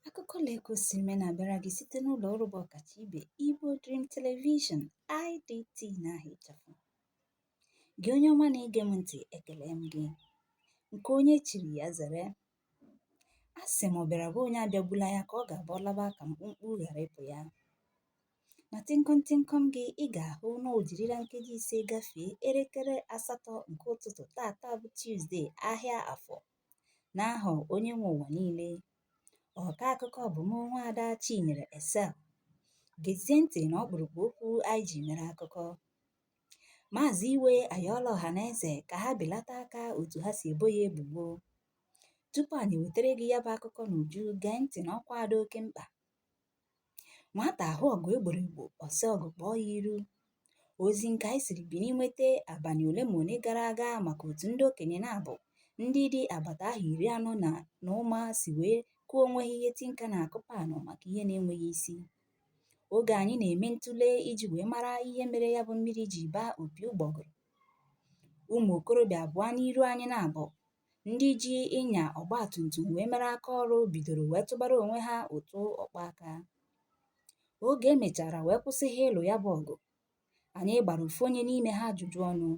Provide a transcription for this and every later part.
Akụkọ lee ka o si mee na-abịara gị site n'ụlọ ọrụ bụ ọkacha ibe Igbo Dream Television IDT na aha ịchafụ. Gị onye ọma na-ege m ntị ekele m gị nke onye chiri ya zere a sị m ọ bịara be onye abịagbula ya ka ọ ga-abụ ọ laba ka mkpumkpu ghara ịpụ ya na tịnkọm tịnkọm gị ị ga-ahụ na o jirila nkeji ise gafee elekere asatọ nke ụtụtụ tata bụ Tuzdee ahịa afọ n'aha onye nwe ụwa niile ọka akụkọ bụ m nwa ada chinyere Excel gezie ntị na ọkpụrụkpụ okwu anyị ji mere akụkọ maazị iwe ayọọla ọha na eze ka ha belata aka otu ha si ebo ya ebubo tupu anyị wetara gị ya bụ akụkọ n'uju gee ntị na ọkwa a dị oke mkpa nwata ahụ ọgụ e gboro egbo ọ sị ọgụ kpọọ ya iru ozi nke anyị siri Bini nweta abalị ole ma ole gara aga maka otu ndị okenye na-abụ ndị dị agbata ahọ iri anọ na na ụma si wee kụọ onwe ha ihe tinka na-akụ panụ maka ihe na-enweghị isi oge anyị na-eme ntụle iji wee mara ihe mere ya bụ mmiri ji baa opi ụgbọgụrụ ụmụ okorobịa abụọ n'iru anyị na-abụ ndị ji ịnya ọgbatumtum wee mere aka ọrụ bidoro wee tụbara onwe ha ụtụ ọkpa aka oge e mechara wee kwụsị ha ịlụ ya bụ ọgụ anyị gbara ofu onye n'ime ha ajụjụ ọnụ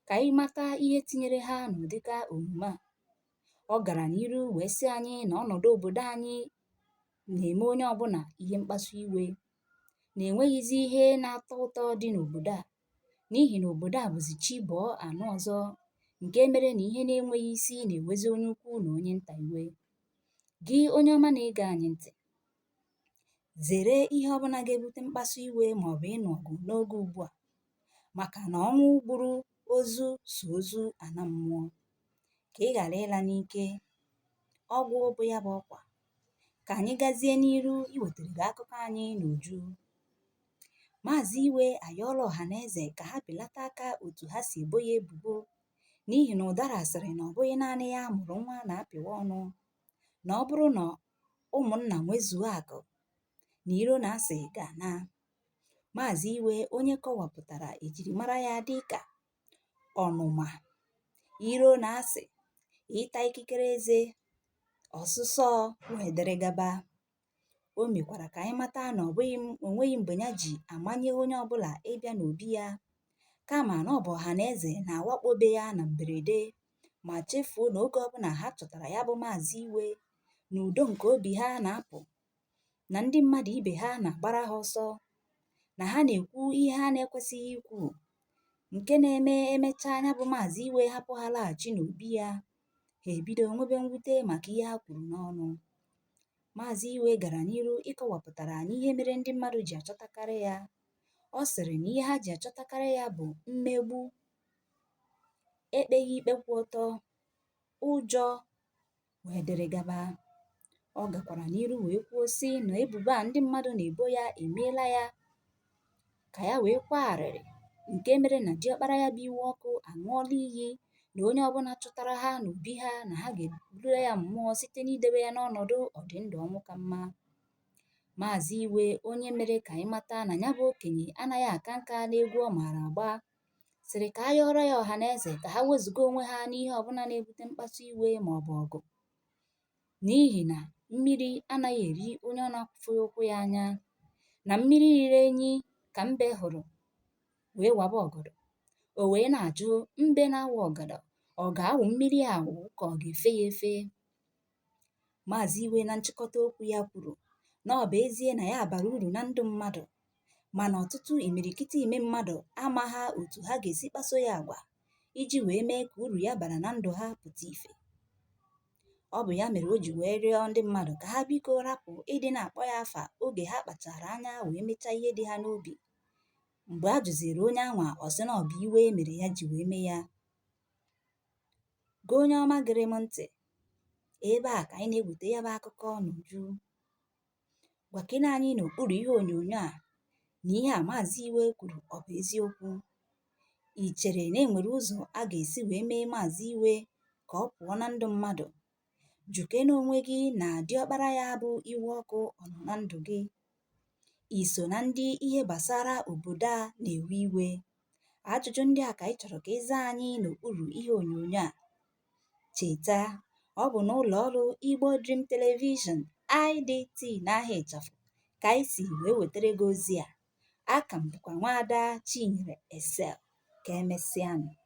ka anyị mata ihe tinyere ha n'ụdịka omume a ọ gara n'iru wee sị anyị na ọnọdụ obodo anyị na-eme onye ọbụla ihe mkpasu iwe na enweghịzi ihe na-atọ ụtọ dị n'obodo a n'ihi na obodo a bụzi chi bọọ a nụ ọzọ nke mere na ihe na-enweghị isi na-ewezi onye ukwu na onye nta iwe gị onye ọma na-ege anyị ntị zere ihe ọbụla ga-ebute mkpasu iwe ma ọ bụ ịnụ ọgụ n'oge ugbu a maka na ọnwụ gburu ozu so ozu ana mmụọ ka ị ghara ịla n'ike ọgwụgwụ ya bụ ọkwa ka anyị gazie n'iru iwetara gị akụkọ anyị n'uju Maazị Iwe ayọọla ọhaneze ka ha belata aka otu ha si ebo ya ebubo n'ihi na ụdara sịrị na ọ bụghị naanị ya mụrụ nwa na-apịwa ọnụ na ọ bụrụ na ụmụnna nwezuo akụ na iro na asị ga-ana Maazị Iwe onye kọwapụtara ejirimara ya dị ka ọnụma iro na asị ịta ikikere eze ọsụsọ wdg O mekwara ka anyị mata na ọ bụghị m- o nweghị mgbe ya ji amanye onye ọbụla ịbịa n'obi ya, kama na ọ bụ ọha na eze na-awakpo be ya na mberede ma chefuo na oge ọbụla ha chọtara ya bụ maazị iwe na udo nke obi ha na-apụ na ndị mmadụ ibe ha na-agbara ha ọsọ na ha na-ekwu ihe ha na-ekwesịghị ikwu nke na-eme e mechaa nya bụ maazị iwe hapụ ha laghachi n'obi ya ha ebido nwebe mwute maka ihe ha kwuru n'ọnụ Maazị Iwe gara n'iru ịkọwapụtara anyị ihe mere ndị mmadụ ji achọtakarị ya. Ọ sịrị na ihe ha ji achọtakarị ya bụ mmegbu, ekpeghị ikpe kwụ ọtọ, ụjọ wee dịrị gaba. Ọ gakwara n'iru wee kwuo sị na ebubo a ndị mmadụ na-ebo ya emeela ya ka ya wee kwaa arịrị nke mere na diọkpara ya bụ iwe ọkụ aṅụọla iyi na onye ọbụla chọtara ha n'obi ha na ha ga-ebula ya mmụọ site n'idobe ya n'ọnọdụ ọdịndụ ọnwụ ka mma maazị iwe onye mere ka anyị mata na ya bụ okenye anaghị aka nka n'egwu ọ maara agba sịrị ka a yọọrọ ya ọha na eze ka ha wezụga onwe ha n'ihe ọbụla na-ebute mkpasu iwe ma ọ bụ ọgụ n'ihi na mmiri anaghị eri onye ọ na-afụghị ụkwụ ya anya na mmiri riri enyi ka mbe hụrụ wee waba ọgọdọ o wee na-ajụ mbe na-awa ọgọdọ ọ ga-awụ mmiri awụ ka ọ ga-efe ya efe maazị iwe na nchịkọta okwu ya kwuru na ọ bụ ezie na ya bara uru na ndụ mmadụ mana ọtụtụ imirikiti ime mmadụ amaghị otu ha ga-esi kpaso ya agwa iji wee mee ka uru ya bara na ndụ ha pụta ife. Ọ bụ ya mere o ji wee rịọ ndị mmadụ ka ha biko rapụ ịdị na-akpọ ya afa oge ha kpachara anya wee mechaa ihe dị ha n'obi. Mgbe a jụziri onye anwa, ọ sị na ọ bụ iwe mere ya ji wee mee ya. Gị onye ọma gere m ntị, ebe a ka anyị na-eweta ya bụ akụkọ n'uju. Gwakene anyị n'okpuru ihe onyonyo a na ihe a Maazị Iwe kwuru ọ bụ eziokwu. I chere na e nwere ụzọ a ga-esi wee mee Maazị Iwe ka ọ pụọ na ndụ mmadụ? Jụkene onwe gị na diọkpara ya bụ Iwe Ọkụ ọ nọ na ndụ gị? I so na ndị ihe gbasara obodo a na-ewe iwe? Ajụjụ ndị a ka anyị chọrọ ka ị zaa anyị n'okpuru ihe onyonyo a. Cheta, ọ bụ n'ụlọ ọrụ Igbo Dream Television, IDT, n'aha ịchafụ ka anyị si wee wetara gị ozi a. Aka m bụkwa nwaada Chinyere Excel. Ka emesịanụ.